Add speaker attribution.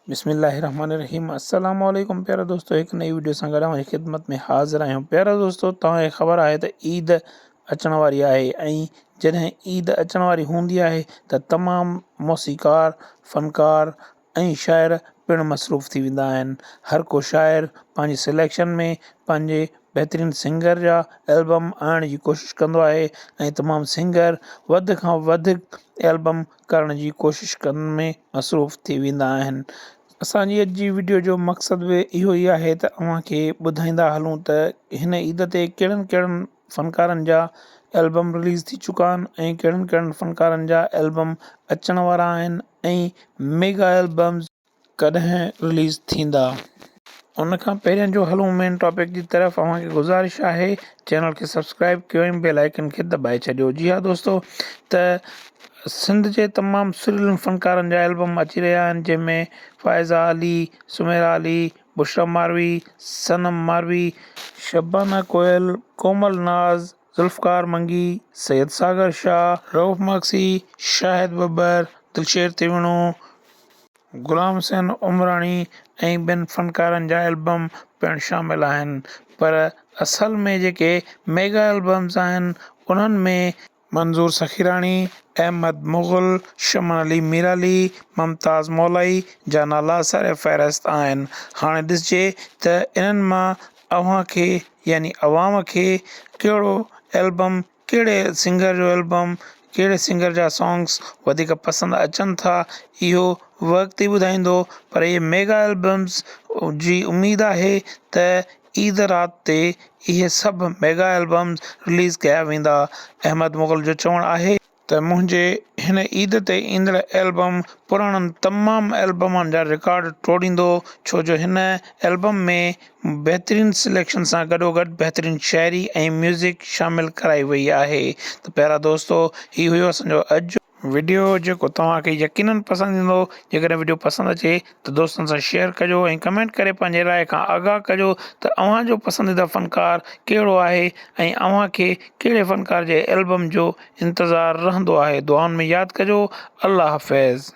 Speaker 1: بسم الله الرحمن الرحيم السلام عليڪم پيارا دوستو هڪ نئي ويڊيو سان گڏ اوهان جي خدمت ۾ حاضر آهيون پيارا دوستو توهان کي خبر آهي ته عيد اچڻ واري آهي ۽ جڏهن عيد اچڻ واري هوندي آهي ته تمام موسيقار فنڪار ۽ شاعر پڻ مصروف ٿي ويندا آهن هر ڪو شاعر پنهنجي سليڪشن ۾ پنهنجي بهترين سنگر جا البم آڻڻ جي ڪوشش ڪندو آهي ۽ تمام سنگر وڌ کان وڌ البم ڪرڻ جي ڪوشش ڪرڻ ۾ مصروف ٿي ويندا آهن اسان جي اڄ جي وڊيو جو مقصد به اهو ئي آهي ته اوهان کي ٻڌائيندا هلون ته هن عيد تي ڪهڙن ڪهڙن فنڪارن جا البم رليز ٿي چڪا آهن ۽ ڪهڙن ڪهڙن فنڪارن جا البم اچڻ وارا آهن ۽ ميگا البمز ڪڏهن رليز ٿيندا. ان کان پهرين جو هلون مين ٽاپڪ جي طرف اوهان کي گذارش آهي چينل کي سبسڪرائيب ڪيو ۽ بيل آئيڪن کي دٻائي ڇڏيو جي ها دوستو ته سنڌ جي تمام سريلن فنڪارن جا البم اچي رهيا آهن جنهن ۾ فائزه علي، سميرا علي، بشرا ماروي، صنم ماروي، شبانه ڪوئل، ڪومل ناز، ذوالفقار منگي، سيد ساگر شاهه، رئوف مگسي، شاهد ٻٻر، دلشير تيوڻو، غلام حسين عمراڻي ۽ ٻين فنڪارن جا البم پڻ شامل آهن پر اصل ۾ جيڪي ميگا البمز آهن انهن ۾ منظور سخيراڻي، احمد مغل، شمن علي ميرعلي، ممتاز مولائي جا نالا سر فهرست آهن. هاڻي ڏسجي ته انهن مان اوهان کي يعني عوام کي ڪهڙو البم ڪهڙي سنگر جو البم ڪهڙي سنگر جا سونگس وڌيڪ پسند اچن ٿا اهو وقت ئي ٻڌائيندو پر اهي ميگا البمس جي اميد آهي ته عيد رات تي اهي سڀ ميگا البمس رليز ڪيا ويندا احمد مغل جو چوڻ آهي ته منهنجي هن عيد تي ايندڙ البم پراڻن تمام البمن جا رڪارڊ ٽوڙيندو ڇو جو هن البم ۾ بهترين سليڪشن سان گڏوگڏ بهترين شاعري ۽ ميوزڪ شامل ڪرائي وئي آهي ته پيارا دوستو هي هيو اسان جو اڄ جو وڊيو جيڪو توهان کي يقينن پسند ايندو جيڪڏهن وڊيو پسند اچي ته دوستن سان شيئر ڪجو ۽ ڪمينٽ ڪري پنهنجي راء کان آگاهه ڪجو ته اوهان جو پسنديده فنڪار ڪهڙو آهي ۽ اوهان کي ڪهڙي فنڪار جي البم جو انتظار رهندو آهي دعائن ۾ ياد ڪجو الله حافظ.